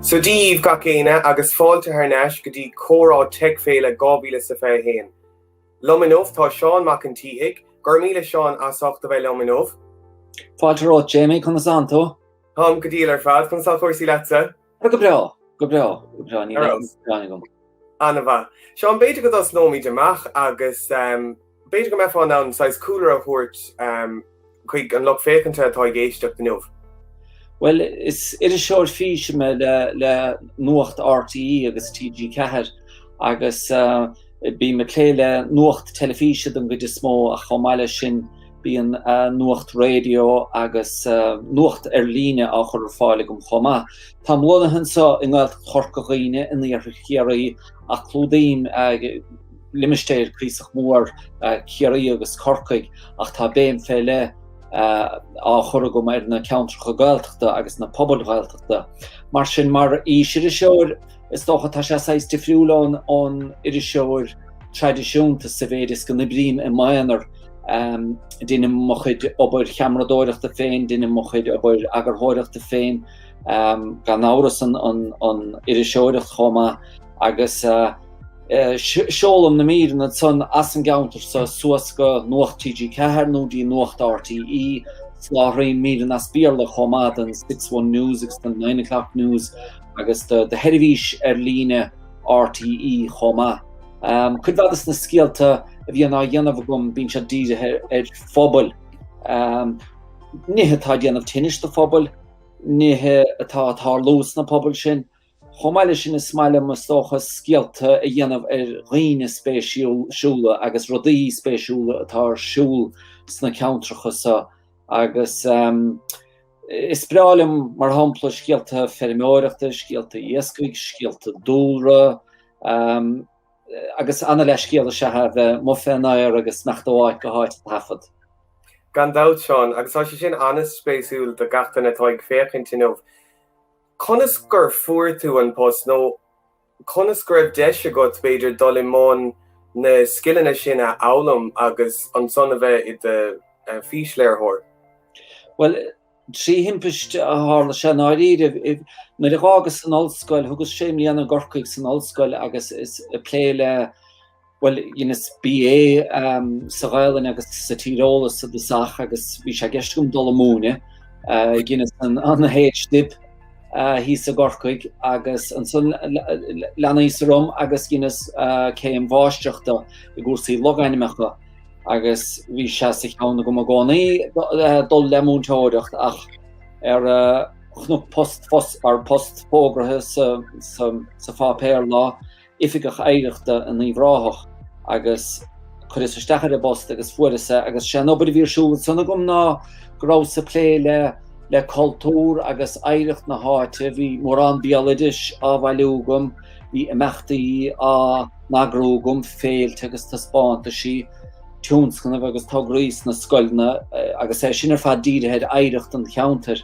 So Dia daoibh gach éinne agus fáilte thar n-ais go dtí Comhrá Teic Féile 2021. Liom inniu tá Seán Mac an tSíthigh. Go raibh míle maith agat Seán as ucht a bheith liom inniu. Fáilte romhat Jamie, conas atá tú? Táim go diail ar fad, conas tá cúrsaí leatsa? Go breá, go breá, go breá, ní gearánta dhom. Ana mhaith. Seán, b'fhéidir go dtosnóimid amach agus b'fhéidir go mbeifeá in ann saghas cúlra a thabhairt chuig an lucht féachanta atá ag éisteacht inniu. Bhuel, is iriseoir físe mé le Nuacht RTÉ agus TG4 agus. Bím ag plé le nuacht teilifíse den gcuid is mó ach chomh maith leis sin bíonn nuacht raidió agus nuacht ar líne á chur ar fáil agam chomh maith. Táim lonnaithe anseo i nGaeltacht Chorca Dhuibhne in iarthar Chiarraí ach clúdaím limistéir cuíosach mór Chiarraí agus Corcaigh ach tá béim fé leith á chur agam ar na ceantracha Gaeltachta agus na pobail Ghaeltachta. Mar sin, mar fhísiriseoir, Is dócha tá sé saghas difriúil ón ón iriseoir traidisiúnta sa mhéid is go n-oibrím i m'aonar, déanaim mo chuid obair cheamaradóireachta féin, déanaim mo chuid obair eagarthóireachta féin, gan amhras an iriseoireacht chomh maith agus seolaim na míreanna ansan as an gceantar seo suas go Nuacht TG4 nó go dtí Nuacht RTÉ, soláthraím míreanna as Béarla chomh maith don Six One News agus don Nine O'Clock News agus do sheirbhís ar líne RTÉ chomh maith. Cuid mhaith de na scéalta a bhíonn á dhéanamh agam bíonn siad dírithe ar phobail, nithe atá ag déanamh tinnis do phobail, nithe atá ag tarlú sna pobail sin. Chomh maith leis sin is maith liom, is dócha, scéalta a dhéanamh ar dhaoine spéisiúla agus rudaí spéisiúla atá ar siúl sna ceantracha seo agus Is breá liom, mar shampla, scéalta feirmeoireachta, scéalta iascaigh, scéalta dúlra, agus an-leithscéal is ea a bheith amuigh fén aer agus ag imeacht ó áit go háit ag taifead. Gan dabht, Seán, agus tá sé sin an-spéisiúil do gach duine atá ag féachaint inniu, conas gur fuair tú an post, nó. Conas go raibh deis agat, b'fhéidir, dul i mbun na scileanna sin a fhoghlaim agus ansan a bheith i do fhísléiritheoir? Bhuel, trí thimpiste a tharla sé, i ndáiríre. Nuair a dh'fhágas an ollscoil, thugas sé mbliana i gCorcaigh san ollscoil agus is ag plé le. Bhuel, dheineas BA sa Ghaelainn agus sa Tíreolas ar dtosach agus bhí sé i gceist agam dul ag múineadh. Dheineas an H-Dip thíos i gCorcaigh agus ansan leanas-sa orm agus dheineas céim mháistreachta i gcúrsaí logainmneacha agus bhí sé sa cheann agam i gcónaí dul le múinteoireacht ach chonac post fós, ar post fógraithe sa pháipéar lá, oifigeach oidhreachta in Uíbh Ráthach agus chuireas isteach ar an bpost agus fuaireas é agus sé an obair a bhí ar siúl ansan agam ná go rabhas ag plé le le cultúr agus oidhreacht na háite, bhí mórán béaloidis á bhailiú agam, bhí imeachtaí á n-eagrú agam, féilte agus taispeántaisí, tionscnaimh agus tograí sna scoileanna agus é sin ar fad dírithe ar oidhreacht an cheantair.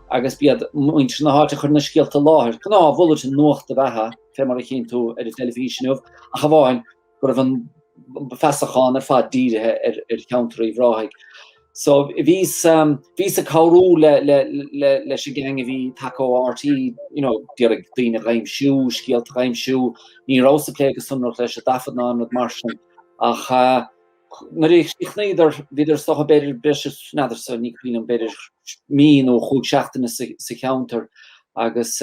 agus b'iad muintir na háite a chuir na scéalta i láthair, gnáthbhulletin nuachta ab ea é, fé mar a chíonn tú, ar an teilifís inniu, ach amháin go raibh an feasachán ar fad dírithe ar cheantar Uíbh Ráthaigh. So, bhíos, bhíos ag cabhrú le, le, le, leis an gang a bhí tagtha ó RTÉ, you know, d'iarraidh daoine a aimsiú, scéalta a aimsiú, ní rabhas ag plé go sonrach leis, a' dtaifead ná aon rud mar sin, ach, Nuair a chríochnaíodar bhíodar, is dócha, b'fhéidir breis is, n'fheadarsa, ní cuimhin liom, b'fhéidir mí nó chúig seachtaine sa cheantar agus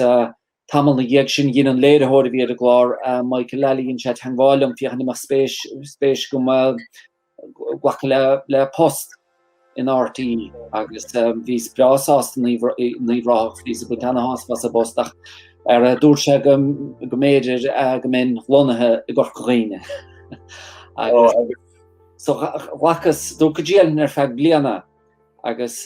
tamall ina dhiaidh sin dhein an léiritheoir a bhí ar an gclár, Michael Lally, dhein sé teagmháil liom féachaint an mbeadh spéis agam glacadh le post. in RTÉ agus bhíos breá sásta in Uíbh Ráthach, bhíos ag baint ana-shásamh as an bpost ach dúirt sé go mb'fhéidir go mbeinn lonnaithe i gCorca Dhuibhne agus so ghlacas, dúrt go dtriailfinn ar feadh bliana agus.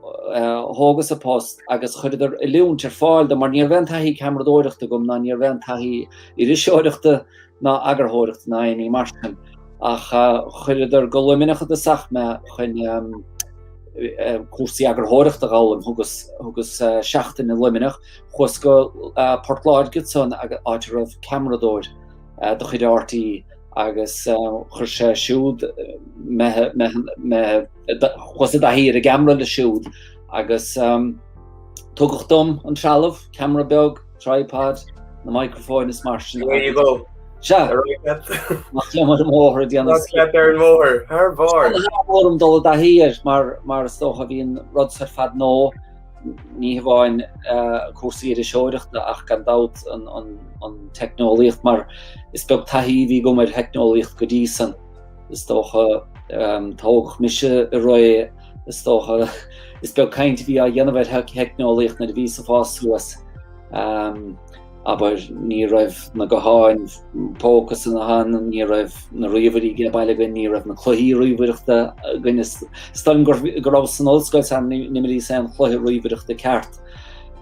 thógas a post agus chuireadar oiliúint ar fáil dom mar ní raibh aon taithí ceamaradóireachta agam ná ní raibh aon taithí iriseoireachta ná eagarthóireachta ná aon ní mar sin. Ach chuireadar go Luimneach ar dtosach mé chun cúrsaí eagarthóireachta a dh'fhoghlaim. Thugas thugas seachtain i Luimneach, chuas go Port Láirge ansan áit a raibh ceamaradóir de chuid RTÉ, agus chuir sé siúd chuas i dtaithí ar an gceamara leis siúd agus tugadh dom an trealamh, ceamara beag, tripod, na microfóin is mar sin. There you go. Sea. Amach liom ar an mbóthar a dhéanamh. Nach liom ar an mbóthar, thar barr. Is bhí orm dul i dtaithí air mar is dócha bhí an rud so ar fad nua Ní hamháin cúrsaí iriseoireachta ach gan dabht an teicneolaíocht mar is beag taithí a bhí agam ar theicneolaíocht go dtí san. Is dócha tógadh mise i ré is dócha is beag caint a bhí á dhéanamh ar theicneolaíocht nuair a bhíos-sa ag fás suas. Abair, ní raibh na gutháin póca san ann, ní raibh na ríomhairí ag baile againn, ní raibh na cluichí ríomhaireachta againn. Is dóigh liom go rabhas san ollscoil sara n-imríos aon chluiche ríomhaireachta ceart.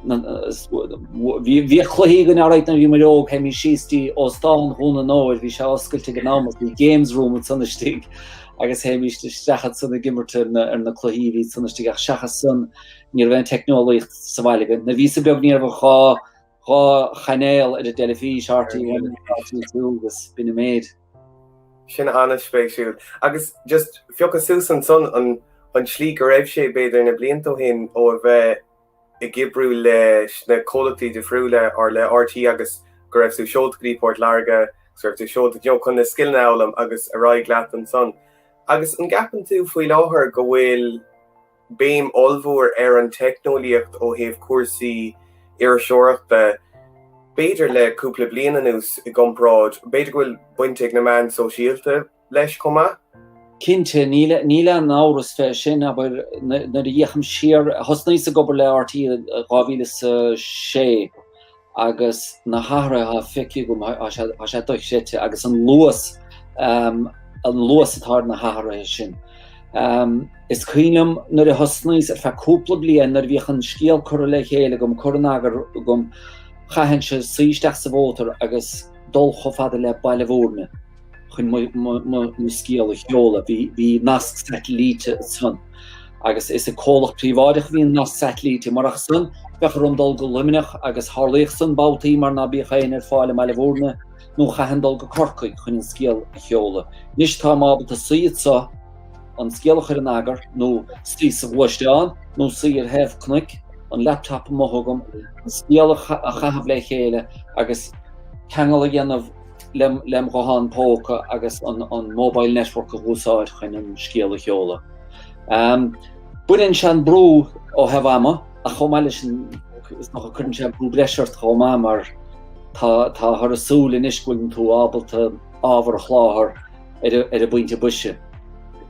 Bhíodh cluichí againn alright nuair a bhí muid óg, théimid síos go dtí óstán Dhún an Óir, bhí sé oscailte ag an am agus bhí games room ansan istigh agus théimid isteach ansan ag imirt ar na cluichí a bhí ansan istigh. Ach seachas san, ní raibh aon teicneolaíocht sa bhaile againn. Nuair a bhíos-sa beag, ní raibh ann ach dhá. dhá chainéal ar an dteilifís, RTÉ 1 agus RTÉ 2 agus b'in an méid. Sin an-spéisiúil. Agus just phiocas-sa suas ansan an tslí go raibh sé, b'fhéidir, na blianta ó shin ó a bheith ag oibriú leis na comhlachtaí difriúla, le RTÉ agus go raibh tú seolta go dtí Port Láirge agus go raibh tú seolta, you know, chun na scileanna a fhoghlaim agus ar aghaidh leat ansan. Agus an gceapann tú faoi láthair go bhfuil, béim ollmhór ar an teicneolaíocht ó thaobh cúrsaí iriseoireachta, b'fhéidir le cúpla bliain anuas, i gcomparáid, b'fhéidir go bhfuil baint ag na meáin shóisialta leis chomh maith. Cinnte, níl aon amhras fé sin, abair, nuair a fhéachaim siar, thosnaíos ag obair le RTÉ i 2006, Agus na hathruithe atá feicthe agam, tá sé dochreidte, agus an luas, an luas atá ar na hathruithe sin. Is cuimhin liom nuair a thosnaíos, ar feadh cúpla bliain, nuair a bhíodh an scéal curtha le chéile agam, curtha in eagar agam, chaithfinnse suí isteach sa mhótar agus dul chomh fada le Baile Bhuirne, chun mo scéal a sheoladh, bhí nasc satailíte ansan, agus is ag comhlacht príobháideach a bhí an nasc satailíte, murach san, bheadh orm dul go Luimneach, agus tharlaíodh san babhtaí mar ná bíodh éinne ar fáil i mBaile Bhuirne, nó chaithfinn dul go Corcaigh chun an scéal a sheoladh. Anois táim ábalta suí anseo, an scéal a chur in eagar, nó suí sa ghluaisteán, nó suí ar thaobh cnoic, an laptop amuigh agam, an scéal a chaitheamh le chéile, agus ceangal a dhéanamh, lem ghuthán póca agus an mobile network a úsáid chun an scéal a sheoladh. Baineann sé an brú ó thaobh ama ach chomh maith leis sin is dócha go gcuireann sé brú breise ort chomh maith mar táthar ag súil anois go bhfuil tú ábalta ábhar a sholáthar ar an bpointe boise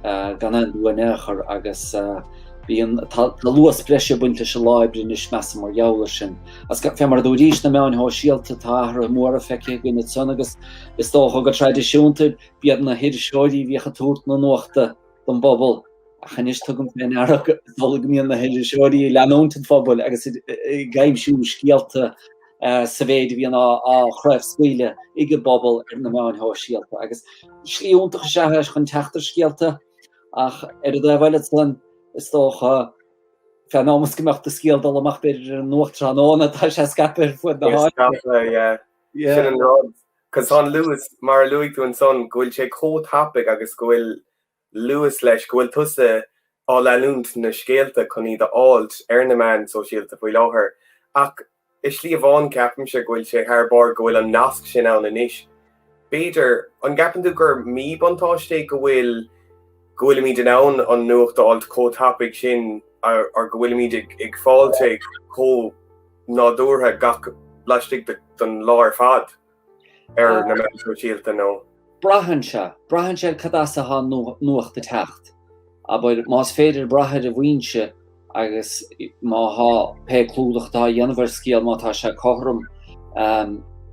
gan aon mhoill in aon chor agus tá luas breise ag baint leis an obair anois measaim mar gheall air sin. Fé mar a dúraís na meáin shóisialta, tá athruithe móra feicthe againn ansan agus is dócha go traidisiúnta b'iad na hiriseoirí a bhíodh ag tabhairt na nuachta don bpobal ach anois tugaim fé ndeara go dtugann go mbíonn na hiriseoirí ag leanúint an phobail agus ag aimsiú scéalta sa mhéid a bhíonn á chraobhscaoileadh ag an bpobal ar na meáin shóisialta agus slí iontach is ea chun teacht ar scéalta ach ar an dtaobh eile ansan is dócha Fé 'n am is go mbeadh do scéal dul amach b'fhéidir ar an nuacht tráthnóna, tá sé scaipthe ar fud na háite. Tá scaipthe, yeah. Yeah. Sin an rud. 'Cause tá an luas, mar a luaigh tú ansan, go bhfuil sé chomh tapaidh agus go bhfuil luas leis, go bhfuil tusa ag leanúint na scéalta chun iad a fháilt ar na meáin sóisialta faoi láthair. Ach I slí amháin, ceapaimse go bhfuil sé thar barr go bhfuil an nasc sin ann anois. B'fhéidir, an gceapann tú gur míbhuntáiste é go bhfuil go bhfuilimid in ann an nuacht a fháilt chomh tapaidh sin or go bhfuilimid ag fáilt é chomh nádúrtha gach laistigh den lá ar fad? ar na meáin shóisialta nó. Braitheann sé, braitheann sé ar cad as a bhfuil atá an nuacht ag teacht. Abair, más féidir brath ar an bhfoinse agus má thá pé clúdach atá á dhéanamh ar scéal, má tá sé cothrom,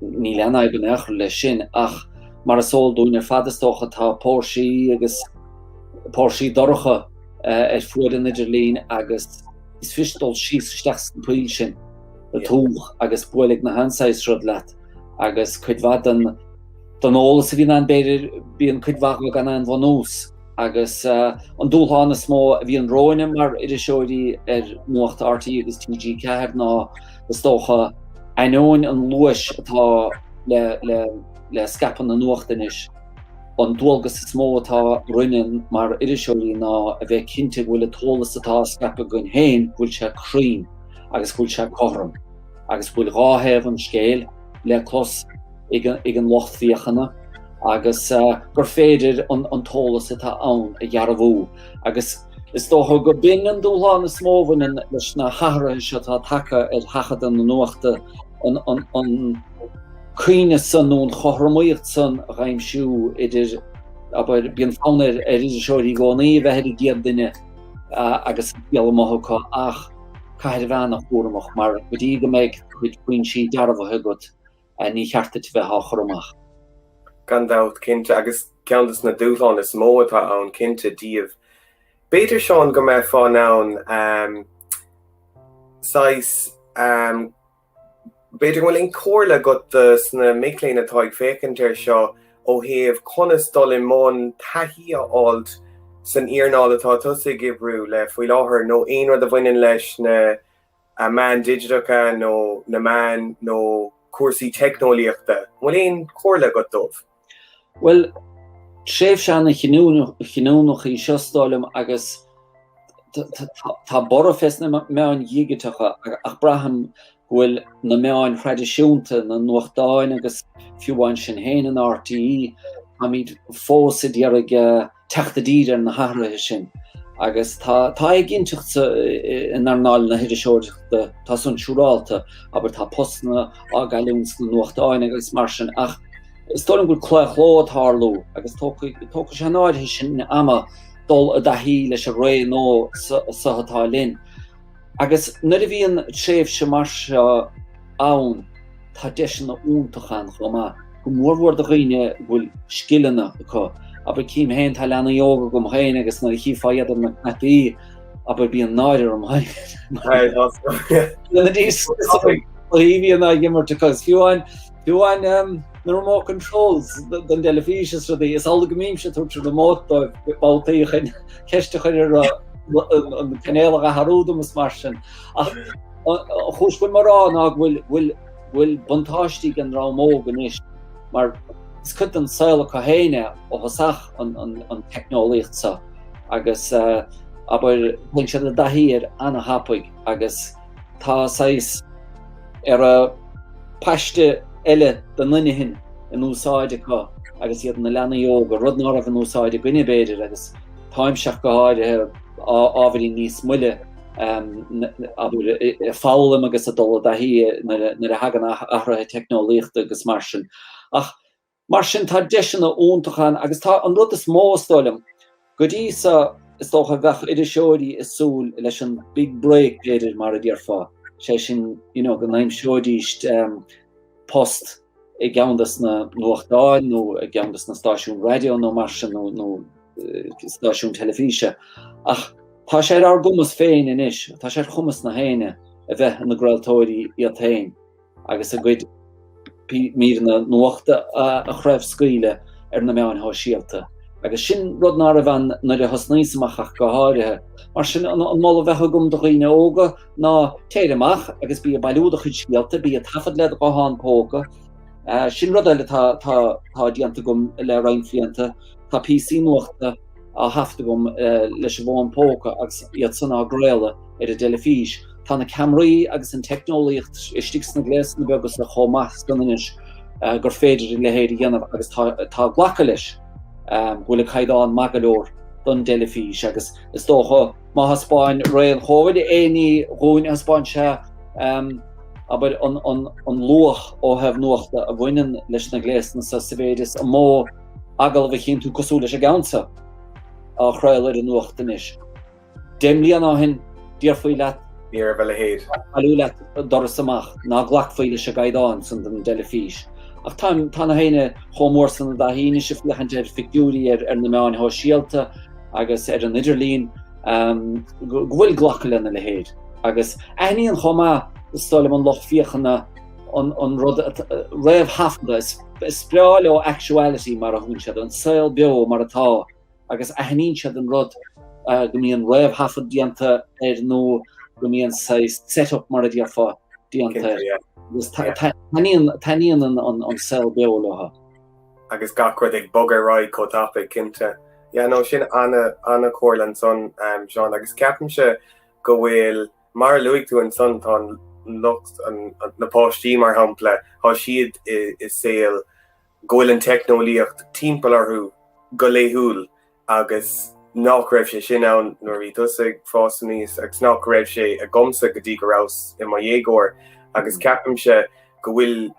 níl aon fhadhb in aon chor leis sin. Ach mar is eol dúinn ar fad, is dócha, tá póirsí agus póirsí dorcha ar fuaid an idirlín agus is fuirist dul síos isteach sa pholl sin. Tuigeann tú agus buailfidh an-saghas rud leat agus cuid mhaith den den eolas a bhíonn ann b'fhéidir bíonn cuid mhaith acu gan aon bhunús agus an dúshlán is mó a bhíonn romhainn mar iriseoirí ar Nuacht RTÉ agus TG4 ná is dócha ainneoin an luais atá le le le scaipeadh na nuacht anois an dualgas is mó atá orainne mar iriseoirí ná a bheith cinnte go bhfuil an t-eolas atá á scaipeadh againn féin go bhfuil sé cruinn. agus go bhfuil sé cothrom, agus go bhfuil dhá thaobh an scéil le clos ag an lucht féachana, agus gur féidir an t-eolas atá ann a dhearbhú. Agus is dócha gur b'in an dúshlán is mó a bhaineann leis na hathruithe seo atá tagtha ar sheachadadh na nuachta, an cruinneas san nó an chothromaíocht san a d'aimsiú idir, abair, bíonn fonn ar iriseoirí i gcónaí a bheith ar an gcéad duine agus an scéal amuigh acu, ach. caithfidh tú a bheith an-chúramach mar go dtí go mbeidh do chuid foinsí dearbhaithe agat, ní cheart duit a bheith á chur amach. Gan dabht, cinnte, agus ceann de na dúshláin is mó atá ann, cinnte, daoibh. B'fhéidir, Seán, go mbeifeá in ann saghas B'fhéidir an bhfuil aon chomhairle agat do na mic léinn atá ag féachaint air seo ó thaobh conas dul i mbun taithí a fháilt san earnáil atá tusa ag oibriú le faoi láthair nó aon rud a bhaineann leis na meáin digiteacha nó na meáin nó cúrsaí teicneolaíochta. An bhfuil aon chomhairle agat dóibh? Bhuel, tréimhse an-chinniúnach í seo, is dóigh liom, agus tá borradh fés na meáin dhigiteacha ach braithim go bhfuil na meáin thraidisiúnta, na nuachtáin agus fiú amháin sinn féin in RTÉ, táimid fós ag iarraidh eh, teacht i dtír ar na hathruithe sin agus tá éiginnteacht in earnáil na hiriseoireachta, tá san siúrálta, abair tá postanna á gcailliúint sna nuachtáin agus mar sin ach is dóigh liom gur claochló atá ag tarlú agus tógfaidh sé an áirithe sin ama dul i dtaithí leis an ré nua so atá linn. Agus nuair a bhíonn tréimhse mar seo ann, tá deiseanna iontacha ann chomh maith, go mór mhór do dhaoine a bhfuil scileanna acu. Abair, tchím féin, tá leanaí óga agam féin agus nuair a chífeá iad ar na cnaipí, abair, bíonn náire orm féin. I bhfianaise leo, fiú amháin. Fiú amháin na remote controls don dteilifís is rudaí, is amhlaidh go mbímse ag tabhairt an remote dóibh babhtaí chun ceist a chur ar an gcainéal a athrú dom is mar sin. Ach an chúis go bhfuil mé á rá ná go bhfuil buntáiste ag an dream óg anois mar is cuid den saol acu féin é ó thosach an teicneolaíocht seo agus abair, téann siad i dtaithí air an-tapaidh agus, Tá saghas ara paiste eile den inchinn in úsáid acu agus iad ina leanaí óga, rud ná raibh in úsáid againne, b'fhéidir, agus táimse ach go háirithe, ábhairín níos moille, abair, ag foghlaim agus ag dul i dtaithí nuair a thagann athruithe teicneolaíochta agus mar sin. Ach Mar sin, tá deiseanna iontacha ann agus tá an rud is mó, is dóigh liom, go dtí seo, is dócha a bheadh iriseoirí ag súil leis an mbig break, b'fhéidir, mar a déarfá, sé sin, you know, go n-aimseoidís post i gceann de na nuachtáin nó i gceann de na stáisiúin raidió nó mar sin, nó stáisiúin teilifíse. Ach tá sé ar ár gcumas féin anois, tá sé ar chumas gach éinne a bheith ina gcraoltóirí iad féin agus a gcuid míreanna nuachta a chraobhscaoileadh ar na meáin shóisialta. Agus sin rud ná raibh ann nuair a thosnaíos amach, ach go háirithe. Mar sin an moladh a bheadh agam do dhaoine óga ná téir amach agus bí ag bailiú do chuid scéalta, bí ag taifead le do ghuthán póca. Sin rud eile atá déanta agam le roinnt bhlianta, tá píosaí nuachta a thaifead agam leis an bhfón póca agus iad san á gcraoladh ar an dteilifís. Tá na ceamaraí agus an teicneolaíocht istigh sna gléasanna beaga seo chomh maith san anois gur féidir an leithéid a dhéanamh agus tá glacadh leis go bhfuil an caighdeán maith go leor don dteilifís agus is dócha má thaispeáin ré an Covid aon ní dhúinn thaispeáin sé abair an luach ó thaobh nuachta a bhaineann leis na gléasanna seo sa mhéid is an mó agallamh a chinntiú cosúil leis an gceann seo á chraoladh ar an nuacht anois. Deich mbliana ó shin, déarfaí leat bailiú leat doras amach, ná glacfaí leis an gcaighdeán san don dteilifís. Ach tá tá gach éinne chomh mór san ina thaithí anois ag féachaint ar phictiúirí ar ar na meáin shóisialta agus ar an idirlíon go bhfuil glacadh lena leithéid. Agus aithníonn chomh maith, is dóigh liom, an lucht féachana, an rud réamhthaifeadta, is breá leo actuality mar a thugann siad air, an saol beo mar atá agus aithníonn siad an rud go mbíonn réamhthaifead déanta air nó go mbíonn saghas set up mar a déarfá déanta air agus taitníonn an saol beo leo. Agus gach rud ag bogadh ar aghaidh chomh tapaidh, cinnte. Yeah, no, sin an-chomhairle ansan, Seán, agus ceapaimse go bhfuil. Mar a luaigh tú ansan, tá an lucht, na páistí mar shampla, tá siad i saol go bhfuil an teicneolaíocht timpeall orthu go laethúil agus nach raibh sé sin ann nuair a bhí tusa ag fás aníos agus nach raibh sé agamsa go dtí go rabhas i mo dhéagóir agus ceapaimse go bhfuil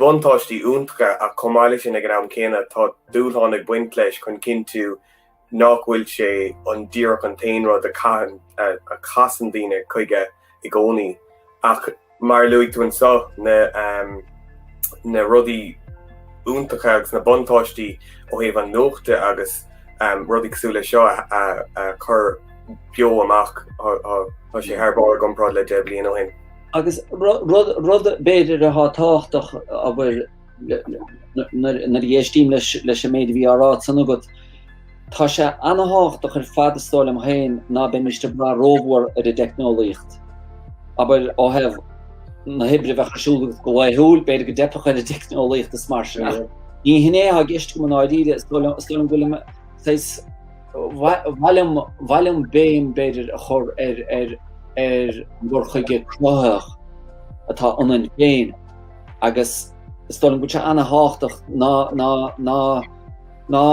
buntáistí iontacha ach chomh maith leis sin ag an am céanna tá dúshláin ag baint leis chun cinntiú nach bhfuil sé an díreach an t-aon rud a caitheann, a chasann daoine chuige i gcónaí. Ach mar a luaigh tú anseo, na rudaí iontacha agus na buntáistí ó thaobh na nuachta agus rudaí cosúil leis seo a chur beo amach, tá sé thar barr i gcomparáid le deich bhliain ó shin. Agus rud b'fhéidir atá tábhachtach a bhfuil. nuair a dh'éistím leis an méid a bhí ráite ansan agat, tá sé an-tábhachtach ar fad is dóigh liom féin ná beimis ag brath rómhór ar an dteicneolaíocht, abair, ó thaobh na hoibre a bheith ar siúl againn go laethúil, b'fhéidir go dteipfeadh ar an dteicneolaíocht is mar sin, ach ní hin é atá i gceist agam i ndáiríre, is dóigh liom go bhfuil saghas, ba mhaith liom béim, b'fhéidir, a chur ar an gcur chuige cruthaitheach atá ionainn féin. agus is dóigh liom go bhfuil sé ana-thábhachtach ná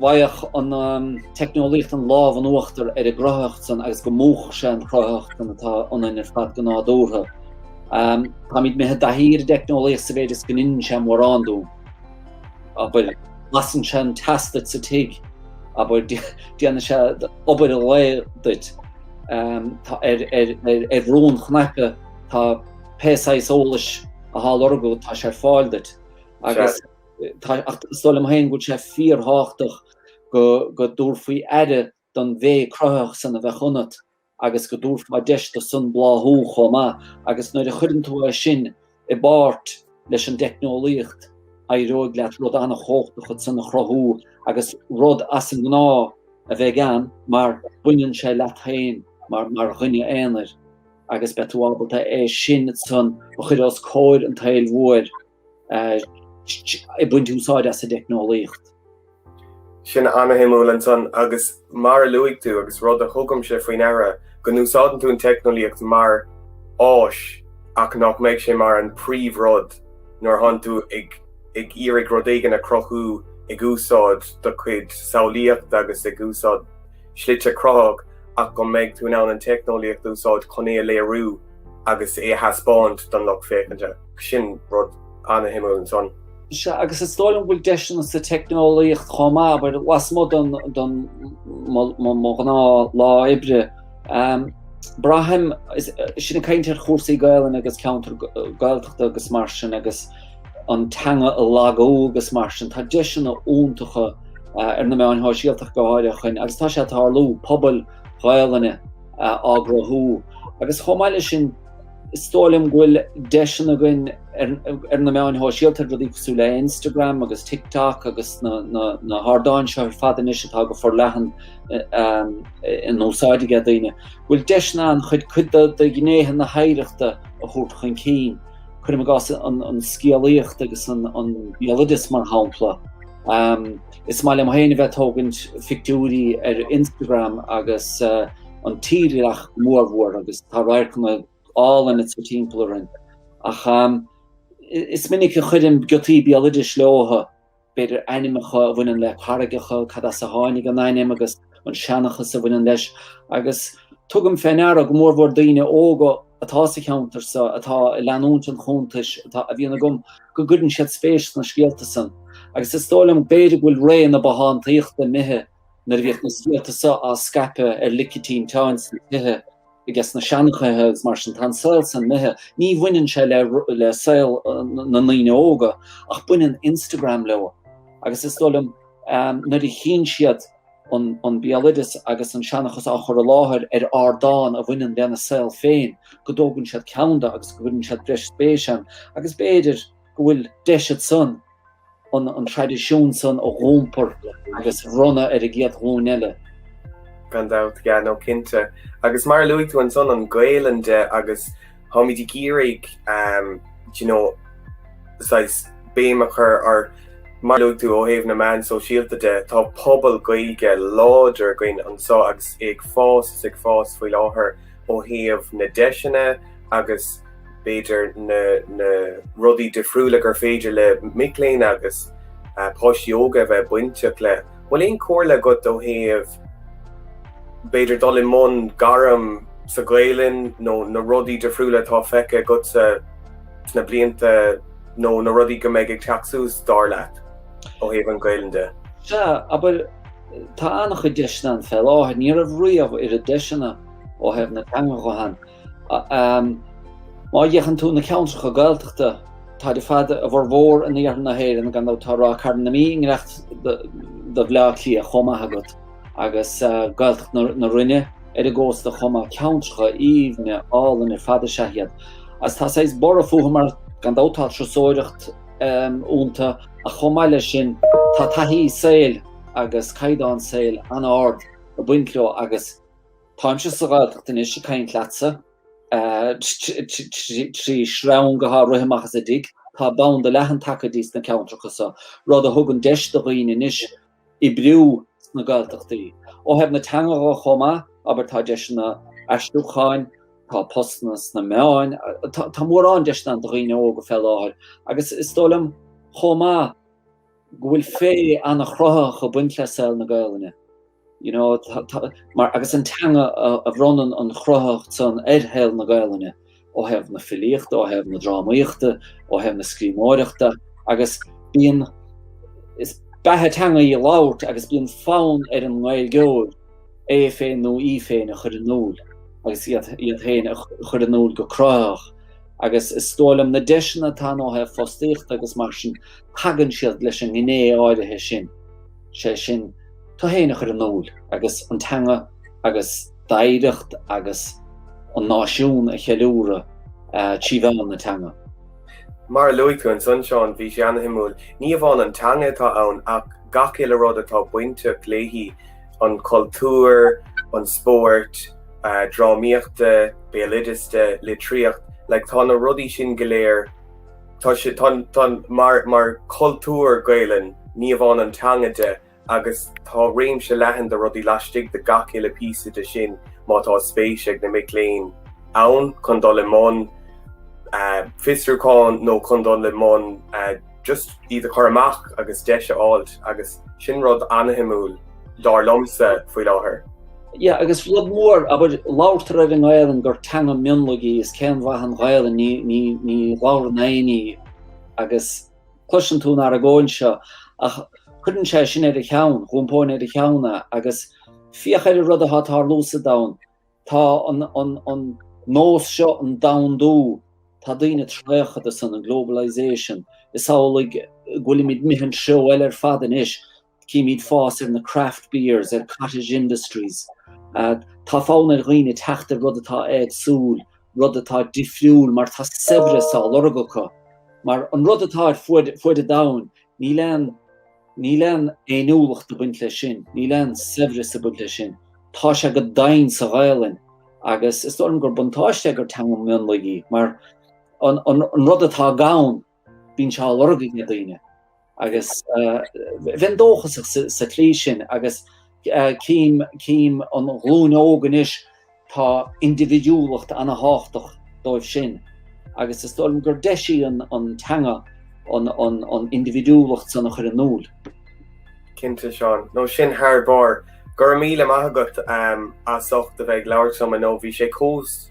bhfaigheadh an teicneolaíocht an lámh in uachtar ar an gcruthaitheacht san agus go múchfadh sé an chruthaitheacht san atá ionainn ar fad go nádúrtha. Táimid imithe i dtaithí ar an dteicneolaíocht sa mhéid is go ndeineann sé mórán dúinn. Abair, lasann sé an teas duit sa tigh, abair, déanann sé obair an lae duit. Ar bhrú cnaipe, tá. pé saghas eolais athá á lorg agat tá sé ar fáil duit agus ach is dóigh liom féin go bhfuil sé fíor-thábhachtach go go dtabharfaí aire don mhéith chruthaitheach san a bheadh ionat agus go dtabharfá deis do san bláthú chomh maith agus nuair a chuireann tú é sin i bpáirt leis an dteicneolaíocht éireoidh leat rud ana-chomhachtach ansan a chruthú agus rud as an ngnáth a bheith agat ann mar baineann sé leat féin mar mar dhuine aonair. agus beidh tú ábalta é sin ansan a chur os comhair an tsaoil mhóir ag baint úsáid as an dteicneolaíocht. Sin ana-shuimiúil ansan agus mar a luaigh tú, agus rud a thugaimse fé ndeara, go n-úsáideann tú an teicneolaíocht mar áis ach nach mbeidh sé mar an príomhrud nuair atánn tú ag iarraidh rud éigin a chruthú ag úsáid do chuid samhlaíochta agus ag úsáid slite cruthaitheacha ach go mbeidh tú in ann an teicneolaíocht a úsáid chun é a léiriú agus é a thaispeáint don lucht féachainte. Sin rud an-shuimiúil ansan. Sea, agus is dóigh liom go bhfuil deiseanna sa teicneolaíocht chomh maith, abair lasmuigh den, den, mo, mo, mo ghnáth-lá oibre. Braithim, is sinn ag caint ar chúrsaí Gaelainne agus ceantar Gaeltachta agus mar sin agus, an teanga ag lagú agus mar sin. Tá deiseanna iontacha ar na meáin shóisialta go háirithe chun, agus tá sé ag tarlú, pobail Ghaelainne á gcruthú. Agus chomh maith leis sin, is dóigh liom go bhfuil deiseanna againn ar na meáin shóisialta, ar rudaí cosúil le Instagram agus TikTok agus na hardáin seo ar fad anois atá go forleathan in úsáid ag daoine, go bhfuil deiseanna ann chun cuid de ghnéithe na hoidhreachta a thabhairt chun cinn. cuirim i gcás an scéalaíocht agus an béaloideas mar shampla. Is maith liom féin a bheith tógaint phictiúirí ar Instagram agus an tírdhreach mór mhór agus tá radharcanna áille ansan atá timpeall orainn. Ach is minic a chuirim giotaí béaloidis leobhtha. b'fhéidir, ainmneacha a bhaineann le carraigeacha, cad as a tháinig an ainm agus an seanchas a bhaineann leis, agus tugaim fé ndeara, go mórmhór daoine óga atá sa cheantar so, atá ag leanúint an chuntais atá, a bhíonn agam, go gcuireann siad spéis sna scéalta san. Agus is dóigh liom, b'fhéidir, go bhfuil ré na bothántaíochta imithe, nuair a bhíodh na scéalta so á scaipeadh ar lic an tinteáin sna tithe, I gcás na seanchaithe agus mar sin, tá an saol san imithe. Ní bhaineann sé le saol na ndaoine óga ach baineann Instagram leo agus is dóigh liom nuair a chíonn siad an béaloideas agus an seanchas á chur i láthair ar ardán a bhaineann lena saol féin go dtógann siad ceann de agus go gcuireann siad breis spéise ann agus b'fhéidir go bhfuil deis éigin ansan Baineadh an traidisiún san a iompar agus a bhronnadh ar an gcéad ghlúin eile. Gan dabht, yeah, no cinnte. Agus mar a luaigh tú ansan an Gaelainn de agus tháimid ag iarraidh um, you know, saghas béim a chur ar mar luaigh tú ó thaobh na meán sóisialta de, tá pobal Gaeilge láidir againn anso agus é ag fás is ag fás faoi láthair ó thaobh na deiseanna agus b'fhéidir, na rudaí difriúla gur féidir le mic léinn agus páistí óga a bheith bainteach le. Bhfuil aon chomhairle agat ó thaobh, b'fhéidir, dul i mbun gairm sa Ghaelainn nó na rudaí difriúla atá feicthe agatsa sna blianta nó na rudaí go mbeidh ag teacht suas, dar leat, ó thaobh an Ghaelainn de? Sea, abair, tá an-chuid deiseanna ann fé láthair. Ní raibh riamh oiread deiseanna ó thaobh na teangan de. Má fhéachann tú na ceantracha Gaeltachta, táid ar fad a bhformhór in iarthar na hÉireann, gan dabht tá Ráth Cairn na Mí i ngiorracht do Bhleá Cliath chomh maith agat, agus Gaeltacht na Rinne ar an gcósta chomh maith. Ceantracha aoibhne áille ar fad is ea iad, agus tá saghas borradh fúthu mar gan dabht tá turasóireacht iontu, ach chomh maith leis sin tá taithí saoil agus caighdeán saoil an-ard ag baint leo agus. Táimse sa Ghaeltacht anois ag caint leatsa, trí shreang atá ag rith amach as an dtigh. Tá banda leathan tagaithe sna ceantracha seo, rud a thugann deis do dhaoine anois oibriú sna Gaeltachtaí. Ó thaobh na teanga de chomh maith, abair, tá deiseanna aistriúcháin, tá postanna sna meáin, tá mórán deiseanna ann do dhaoine óga fé láthair, agus is dóigh liom chomh maith, go bhfuil féith an-chruthaitheach ag baint le saol na Gaelainne, you know, mar agus is í an teanga a bhronnann an chruthaitheacht san ar shaol na Gaelainne, ó thaobh na filíochta, ó thaobh na drámaíochta, ó thaobh na scríbhneoireachta, agus bíonn, beatha teanga í a labhairt agus bíonn fonn ar an nGaeilgeoir é féin nó í féin a chur in iúl agus iad, iad féin a chur in iúl go cruthaitheach, agus is dóigh liom na deiseanna atá ann ó thaobh fostaíochta agus mar sin, tagann siad leis an ngné áirithe sin, sé sin, tú féin a chur in iúl agus an teanga agus d'oidhreacht agus an náisiún a cheiliúradh trí mheán na teanga. Mar a luaigh tú, ansan, Seán, bhí sé ana-shuimiúil, ní amháin an teanga atá ann ach gach uile rud atá bainteach léi, an cultúr, an spórt, drámaíocht de, béaloideas de, litríocht, like tá na rudaí sin go léir Tá sé, tá, tá, mar, mar chultúr Gaelainn, ní amháin an teanga de, agus tá réimse leathan de rudaí laistigh de gach uile phíosa de sin, má tá spéis ag na mic léinn ann chun dul i mbun, eh, fiosrúchán nó chun dul i mbun, eh, just iad a chur amach agus deis a fháilt, agus sin rud ana-shuimiúil. dar liomsa, faoi láthair. Yeah, agus rud mór, abair, labhartar ar an nGaelainn gur teanga mionlaigh í, is cén mhaith an Ghaelainn, ní, ní, ní labhrann éinne í, agus cloiseann tú an argóint seo, ach cuireann sé sin ar a cheann, d'iompóinn ar a cheann é, agus féach ar an rud atá ag tarlú sa domhan, tá an, an, an nós seo, an domhandú, tá daoine traochta dó san, an globalization, is amhlaidh go bhfuilimid, imithe i dtreo eile ar fad anois, Címíd fás ar na craft beers, ar cottage industries. Tá fonn ar dhaoine teacht ar rud atá éagsúil, rud atá difriúil mar tá saibhreas á lorg acu. Mar an rud atá ar fuaid an domhain, níl aon níl aon fhéiniúlacht ag baint leis sin, níl aon saibhreas ag baint leis sin. Tá sé go doimhin sa Ghaelainn agus is dóigh liom gur buntáiste é gur teanga mionlaigh í mar an rud atá gann, Bíonn sé á lorg ag na daoine agus bheinn dóchasach sa tslí sin agus cím an ghlúin óg anois tá indibhidiúlacht ana-thábhachtach dóibh sin agus is dóigh liom gur deis í an teanga an indibhidiúlacht san a chur in iúl. Cinnte Seán, no sin thar barr. Go raibh míle maith agat as ucht a bheith ag labhairt liom inniu, bhí sé chomh.